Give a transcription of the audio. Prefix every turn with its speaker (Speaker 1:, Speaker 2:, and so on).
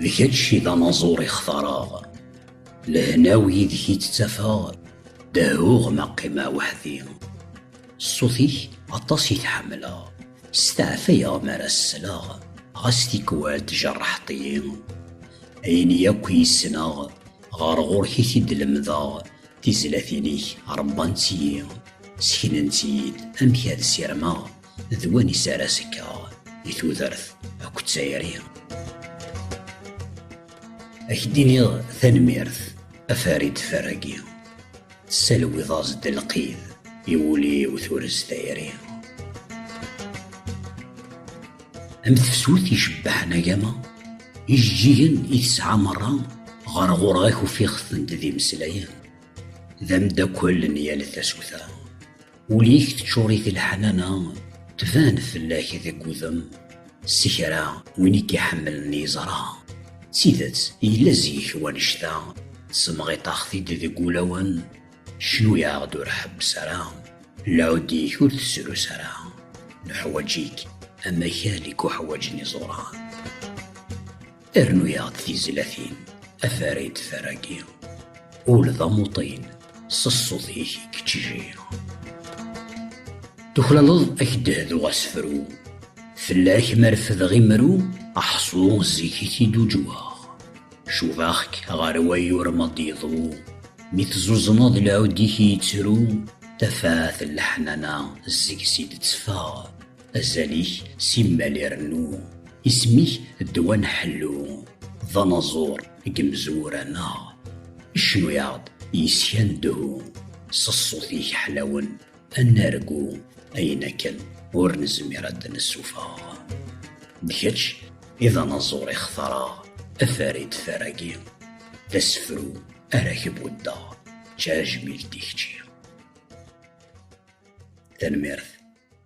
Speaker 1: D kečč i d anaẓur i xtareɣ, Lehna-w yid-k i tt-ttafeɣ, Dehhuɣ ma qqimeɣ weḥd-i. Ṣṣut-ik aṭas i t-ḥemmleɣ, Steɛfayeɣ mi ara s-sleɣ, Ɣas tikwal tjerḥeḍ-iyi. Ayen yakk i yessneɣ, Ɣer ɣur-k i t-id-lemdeɣ, Tizlatin-ik rebbant-iyi, Sseknent-iyi-d amek ad ssirmeɣ. d win isara sekkeɣ di tudert akked tayri ak d-iniɣ tanemmirt afarid faragi tessalwiḍ-as-d lqid i wul-iw turez tayri am tefsut icebbaḥen agama ijeǧǧigen i tesɛa merra ɣer ɣur-ak ufiɣ-tent d imeslayen d amdakel n yal tasuta Ul-ik teččur-it leḥnana, tban fell-ak deg udem. S kra, win i k-iḥemmlen yeẓra. D tidet, yella zik wanect-a, semɣiṭax-t-id deg wulawen, cnu-yaɣ-d ur ḥebbes ara, lɛud-ik ur t-srus ara, nuḥwaǧ-ik am akal i k-uḥwaǧen iẓuran. Rnu-yaɣ-d tizlatin, afarid faragi. Ul d amuṭin, s ṣṣut-ik i keččijiɣ. Tuklaleḍ ad k-d-hduɣ asefru, fell-ak ma refdeɣ imru, aḥṣu zik i k-id-uǧweɣ. Cubaɣ-k ɣer wayyur ma d-yeḍru, mi teẓuzneḍ lɛud-ik yettru, tafat n leḥnana seg-s i d-tteffeɣ, Azal-ik simmal irennu. Isem-ik ddwa-n ḥellu. D anaẓur deg imezwura-nneɣ. Icennu-yaɣ-d yis-k a nedhu. S ṣṣut-ik ḥlawen a nargu. Ayen akken ur nezmir ad d-nessufeɣ. D kečč i d anaẓur i xtareɣ. A farid taragi d asefru ara k-buddeɣ. D tajmilt i kečči. Tanemmirt.